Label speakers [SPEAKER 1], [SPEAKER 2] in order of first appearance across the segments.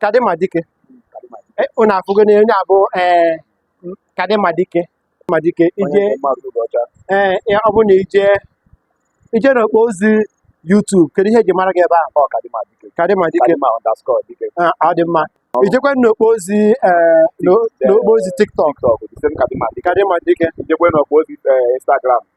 [SPEAKER 1] kadịma dike E, unu afụgo na onye abụ ee kadịma dike ma dike ije ee ya ọ bụ na ije ije n'okpo ozi YouTube kedu ihe eji mara gị ebe ahụ kadịma dike Ah, ọ dị mma i jekwa n'okpo ozi ee n'o- n'okpo ozi TikTok kadịma dike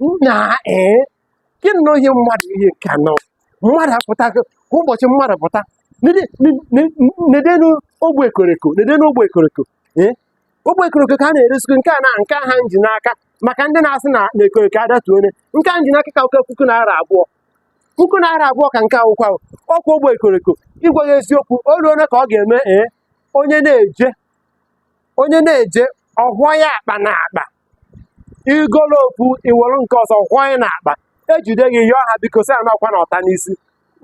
[SPEAKER 1] nnaa ee gịnị ihe mmadụ ihe nke a na mmadụ apụta kwa ụbọchị mmadụ pụta nedenu ogbe ekoreko nedenu ogbe ekoreko ee ogbe ekoroko ka a na-eresikwu nke a na nke a ha m ji n'aka maka ndị na-asị na na ekoroko adatu ọnụ nke a m ji n'aka ka wụkwa puku naira abụọ puku naira abụọ ka nke akwụkwọ ahụ ọkwa ogbe ekoroko ịgwa gị eziokwu o ruo ole ka ọ ga-eme ee onye na-eje onye na-eje ahịa akpa na akpa i golu ofu i were nke ọzọ kwanye n'akpa ejide gị yọọ ha biko sị ya nakwa na ọta n'isi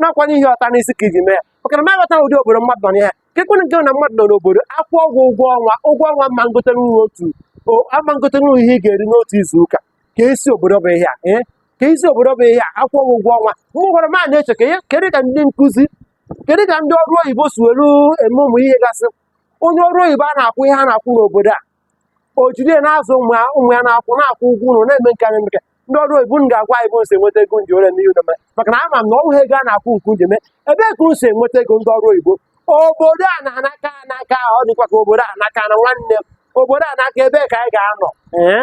[SPEAKER 1] nakwa n'ihi ọta n'isi ka i ji mee ya maka na m aghọta ụdị obodo mmadụ nọ n'ihe ka ekwere nke na mmadụ nọ n'obodo akwụọ gị ụgwọ ọnwa ụgwọ ọnwa ama ngote nri otu o- ama ngote nri ihe ị ga-eri n'otu izu ụka kezi obodo bụ ihe a ee kezi obodo bụ ihe a akwụọ gị ụgwọ ọnwa mụ gwara m a na-eche ka ihe kedu ka ndị nkụzi kedu ka ndị ọrụ oyibo si were eme ụmụ ihe gasị onye ọrụ oyibo a na-akwụ ihe a na-akwụ n'obodo a o jiri ya na-azụ ụmụ ya ụmụ ya na-akwụ na-akwụ ụgwọ ụlọ na-eme nke anyị nke ndị ọrụ oyibo unu ga-agwa anyị ebe unu si enweta ego unu ji ole n'ihe ụlọ mee maka na ama m na ọ wụghị ego a na-akwụ unu ka unu ji eme ebee ka unu si enweta ego ndị ọrụ oyibo obodo a na-anaka anaka ọ dịkwa ka obodo a naka na nwanne m obodo a naka ebee ka anyị ga-anọ ee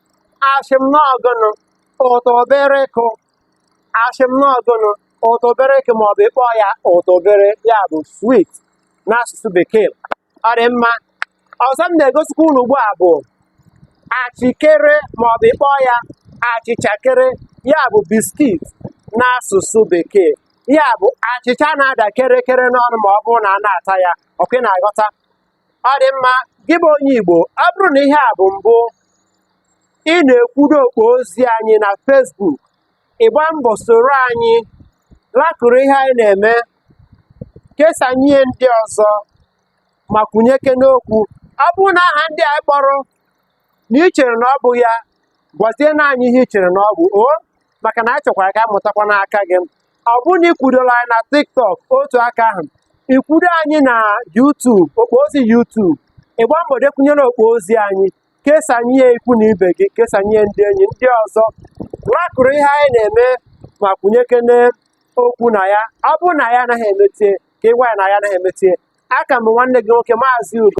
[SPEAKER 1] asị m n'ọ gụnụ ụtọbịrịkụ asị m n'ọ gụnụ ụtọbịrịkụ ma ọ bụ ịkpọ ya ụtọbịrị ya bụ swit n'asụsụ bekee ọ dị mma ọzọ m na-egosikwa unu ugbu a bụ achịkere ma ọ bụ ịkpọ ya achịchakere ya bụ biskit n'asụsụ bekee ya bụ achịcha na-ada kerekere n'ọnụ ma ọ bụrụ na a na-ata ya ọkwa ị na-aghọta ọ dị mma gị bụ onye Igbo ọ bụrụ na ihe a bụ mbụ ị na-ekwudo okpo ozi anyị na Facebook ị gbaa mbọ soro anyị lakụrụ ihe anyị na-eme kesanye ndị ọzọ ma kwunyekwa n'okwu ọ bụrụ na aha ndị anyị kpọrọ na ị chere na ọ bụ ya gwazienụ anyị ihe ị chere na ọ bụ o maka na anyị chọkwara ka a mụtakwa n'aka gị ọ bụrụ na i kwudola anyị na TikTok otu aka ahụ i kwudo anyị na YouTube okpo ozi YouTube ị gba mbọ dekwunyere okpo ozi anyị kesanye ya ikwu na ibe gị kesanye ndị enyi ndị ọzọ laịkụrụ ihe anyị na-eme ma kwunyekene okwu na ya ọ bụrụ na anyị anaghị emetie ka ị gwa anyị na anyị anaghị emetie aka m bụ nwanne gị nwoke maazị Ugo